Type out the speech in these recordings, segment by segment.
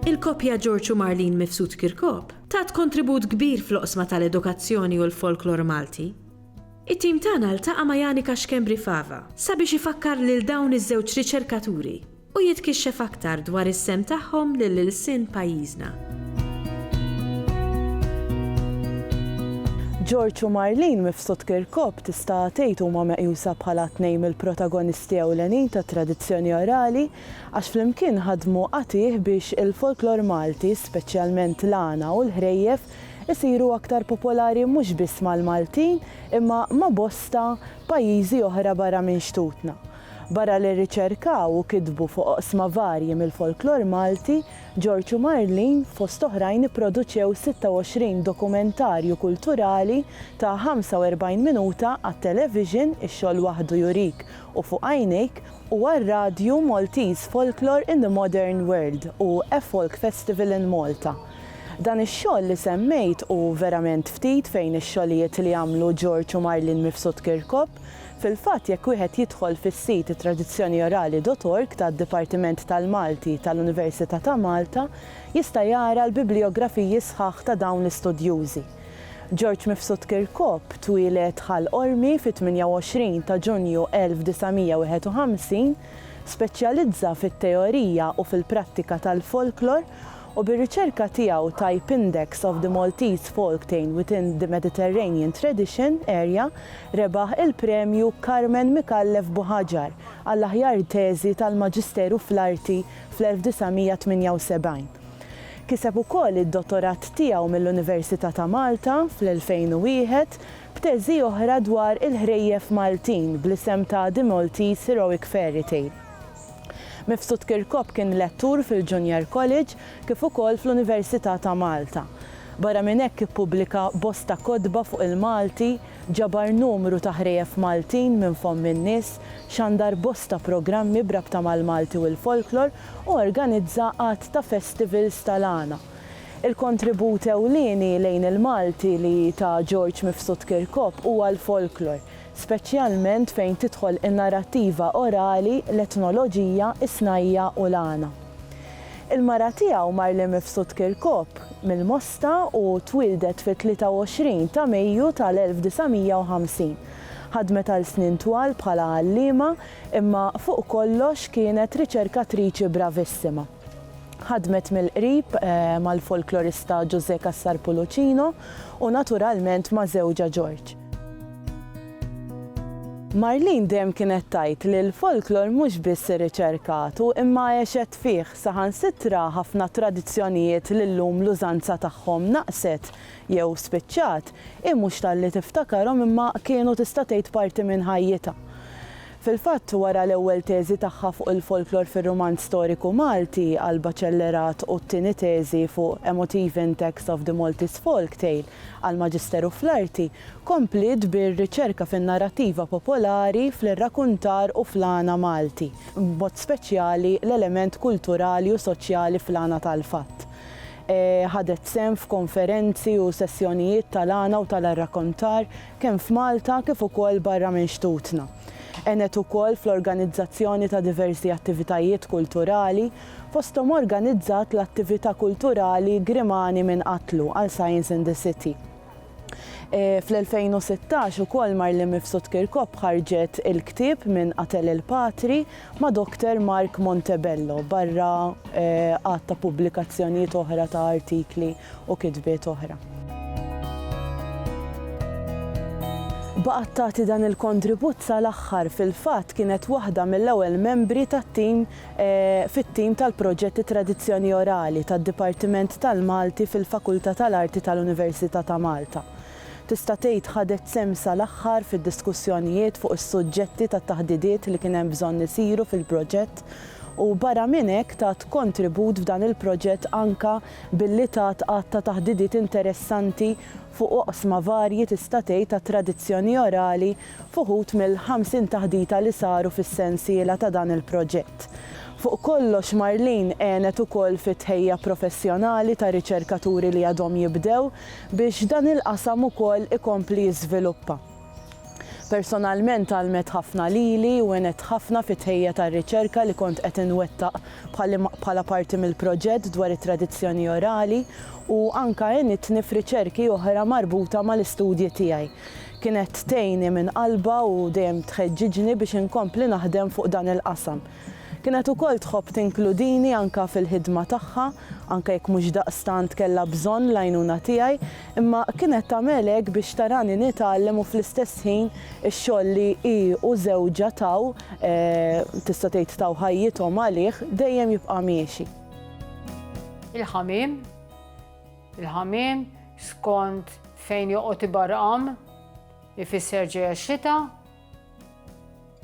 Il-koppja George u Marlene Mifsud Kirkop tat kontribut kbir fl-oqsma tal-edukazzjoni u l-folklor Malti. It-tim tagħna ltaqa' ma' Janika Schembri Fava sabiex ifakkar lil dawn iż-żewġ riċerkaturi u jitkixxef aktar dwar is-sehem tagħhom lil ilsien pajjiżna. George u Marlene Mifsud Kirkop tista' tgħid huma meqjusa bħala tnejn mill-protagonisti ewlenin tat-tradizzjoni orali għax flimkien ħadmu qatigħ biex il-folklor Malti, speċjalment l-għana u l-ħrejjef, isiru aktar popolari mhux biss mal-Maltin imma ma' bosta pajjiżi oħra barra minn xtutna. Barra li rriċerkaw u kitbu fuq oqsma varji mill-folklor Malti, George u Marlene, fost oħrajn ipproduċew 26 dokumentarju kulturali ta' 45 minuta għat-television Ix-Xogħol Waħdu Jurik u Fuq Għajnejk u għar-radju Maltese Folklore in the Modern World u A Folk Festival in Malta. Dan ix-xogħol li semmejt hu verament ftit fejn ix-xogħlijiet li għamlu George u Marlene Mifsud Kirkop, Fil-fatt, jekk wieħed jidħol fis-sit tradizzjoniorali dot org tad-Dipartiment tal-Malti tal-Università ta' Malta, jista' jara l-biblijografiji sħaħ ta' dawn l-istudjużi. George Mifsud Kirkop twieled Ħal Qormi fit-28 ta' Ġunju 1951, speċjalizza fit-teorija u fil-prattika tal-folklor, u bir-riċerka tiegħu Type Index of the Maltese Folktane within the Mediterranean Tradition Area rebaħ il-Premju Carmen Micallef Buhaġar għall-aħjar teżi tal-Maġisteru fl-Arti fl-1978. Kiseb ukoll id-Dottorat tiegħu mill-Università ta' Malta fl-2001 b'teżi oħra dwar il-ħrejjef Maltin bl-isem ta' The Maltese Heroic Fairytale. Mifsud Kirkop kien lettur fil-Junior College kif ukoll fl-Università ta' Malta. Barra minn hekk ippubblika bosta kotba fuq il-Malti, ġabar numru ta' ħrejef Maltin minn fomm in-nies, xandar bosta programmi b'rabta mal-Malti u l-folklor u organizza għadd ta' festivals tal-għana. Il-kontribut ewlieni lejn il-Malti li ta George Mifsud Kirkop huwa l-folklor. speċjalment fejn tidħol in-narrattiva orali, l-etnoloġija, is-snajja' u l-għana. Il-mara tiegħu Marli Mifsud Kirkop, mill-Mosta u twieldet fit-23 ta' Mejju tal-1950. Ħadmet għal snin twal bħala għalliema imma fuq kollox kienet riċerkatriċi bravissima. Ħadmet mill-qrib mal-folklorista Ġużè Cassar Pulucino u naturalment ma' żewġha Ġorġ. Marlene dejjem kienet tgħid li l-folklor mhux biss irriċerkatu imma għexet fih, saħansitra ħafna tradizzjonijiet li llum l-użanza tagħhom naqset jew spiċċat, hi mhux talli tiftakarhom imma kienu tista' tgħid parti minn ħajjitha. Fil-fatt, wara l-ewwel teżi tagħha fuq il-folklor fir-rumanz storiku Malti, Alba Cellerat u t-tieni teżi fuq A Motive in Text of the Maltese Folktale, għall-Maġisteru fl-Arti, kompliet bir-riċerka fin-narrattiva popolari, fl-irrakuntar u fl-għana Malti, b'mod speċjali l-element kulturali u soċjali fl-għana tal-fatt. Ħadet sehem f'konferenzi u sessjonijiet tal-għana u tal-arrakontar kemm f'Malta kif ukoll barra minn xtutna. Għenet ukoll fl-organizzazzjoni ta' diversi attivitajiet kulturali fosthom organizzat l-attività kulturali Grimani minn qatlu għal Science in the City. Fl-2016 ukoll Marlene Mifsud Kirkop ħarġet il-ktieb Min Qatel il-Patri ma' Dr. Mark Montebello barra għadd ta' pubblikazzjonijiet oħra ta' artikli u kitbiet oħra. Baqgħet tagħti dan il-kontribut sal-aħħar, fil-fatt kienet waħda mill-ewwel membri tat-tim fit-tim tal-proġett It-Tradizzjoni Orali tad-Dipartiment tal-Malti fil-Fakultà tal-Arti tal-Università ta' Malta. Tista' tgħid ħadet sehem sal-aħħar fid-diskussjonijiet fuq is-suġġetti tat-taħdidiet li kien hemm bżonn isiru fil-proġett u barra minn hekk tat kontribut f'dan il-proġett anke billi tat għadd ta' taħdidiet interessanti fuq oqsma varji tista' tgħid tat-tradizzjoni orali f'uħud mill-50 taħdita li saru fis-sensiela ta' dan il-proġett. Fuq kollox Marlene għenet ukoll fit-tħejja professjonali ta' riċerkaturi li għadhom jibdew biex dan il-qasam ukoll ikompli jiżviluppa. Personalment għallmet ħafna lili u għenet ħafna fit-tħejja tar-riċerka li kont qed inwettaq bħala parti mill-proġett dwar it-tradizzjoni orali u anke għenitni f'riċerki oħra marbuta mal-istudji tiegħi Kienet tgħinni minn qalbha u dejjem tħeġġiġni biex inkompli naħdem fuq dan il-qasam. Kienet ukoll tħobb tinkludini anke fil-ħidma tagħha, anke jekk mhux daqstant kellha bżonn l-għajnuna tiegħi, imma kienet tagħmel hekk biex tarani nitgħallem u fl-istess ħin ix-xogħol li hi u żewġha taw, tista' tgħid taw ħajjithom għalih, dejjem jibqa' miexi. Il-ħamiem. Il-ħamiem, skont fejn joqgħod ibarqam, ifisser ġejja x-xita.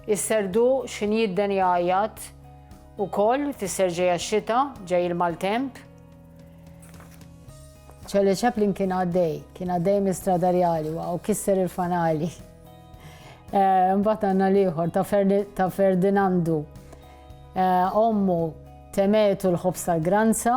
Is-serdu x'in jidden jgħajjat ukoll ifisser ġejja x-xita, ġej il-maltemp. Charlie Chaplin kien għaddej, kien għaddej mistradarjali u kisser il-fanali. Eh, mbagħad għandna l-ieħor ta' Ferdinandu. Eh, ommu temetu l-ħobs tal-granza,